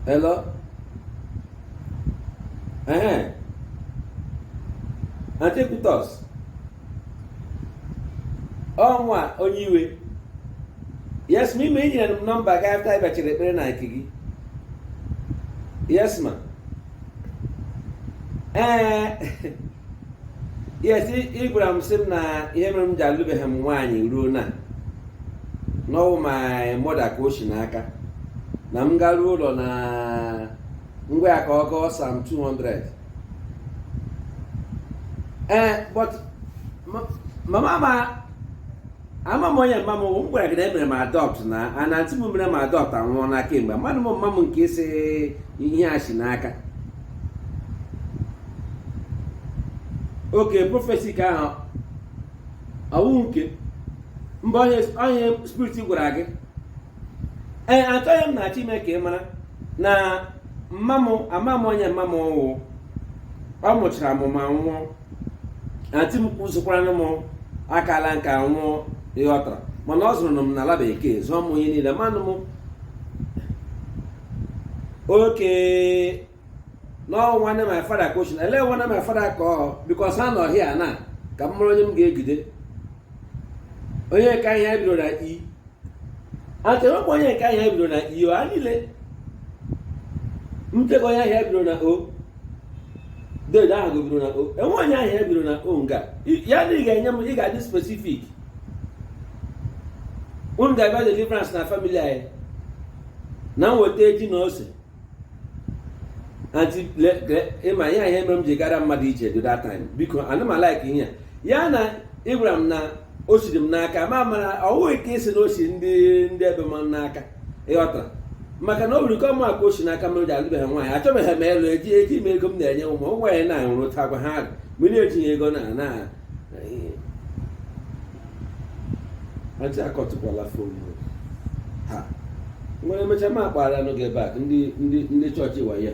Hello? Eh? Antiquitos. Ọnwa onye iwe. Yes, ma ime i nyere m nọmba gị afta ị bịachara ekpere na nke gị. Yes, ma. Eh. yes ị gwara m sị m na ihe mere m ji alụbeghị m nwaanyị ruo na na ọ wụ my mother ka o si n'aka na m garuo ụlọ na m gwa ya ka ọ gụọ psalm 200 ee but mama m ama m onye mma m m gwara gị na e mere m adọpt na antị m mere m adọpt anwụọna kemgbe mmadụ m mma m nke ị sị ihe a si n'aka okay prọfesi ka ahụ ọ wụ nke ebe onye spirit gwara gị ee antị ihe m na-achọ ime ka ị mara na mma mụ ama m onye mma mụ wụ ọ mụchara m anwụọ antị m kwụsịkwara m akala nka nwụọ ị ghọtara mana ọ zụrụ m n'ala bekee zụọ m onye niile manụ m okay na ọ nwanne my father ka o si ele nwanne my father ka ọ because ha nọ here na ka m mara onye m ga-egide onye nke aha ya bidoro na i antị e nwekwa onye nke aha ya bidoro na i o ha niile ntego onye aha ya bidoro na o dede aha ya biro na o e nwe onye aha ya biro na o nga ya na ị ga-enye m ị ga-adị spesifik unu ga-abịa deliverance na famili anyị na nweta eji na ose ị ma ihe ihe mere m ji gara mmadụ ije do that time because ana m alaik ihe ya na ị gwara m na o siri m n'aka mama m ọ wụ ka ị sị na o si ndị ndị ebe m n'aka ị ghọtara maka na o nwere ike ọ mụa ka o si n'aka m ji alụbeghị nwaanyị achọbeghị m ịlụ eji eji m ego m na-enye ụmụ ụmụ nwaanyị na-ahụrụ ụta gwa ha mgbe na-etinye ego na na antị akọtụkwala fon a ngwa e mechaa m akpọrọnụ gị bak ndị chọọchị wayo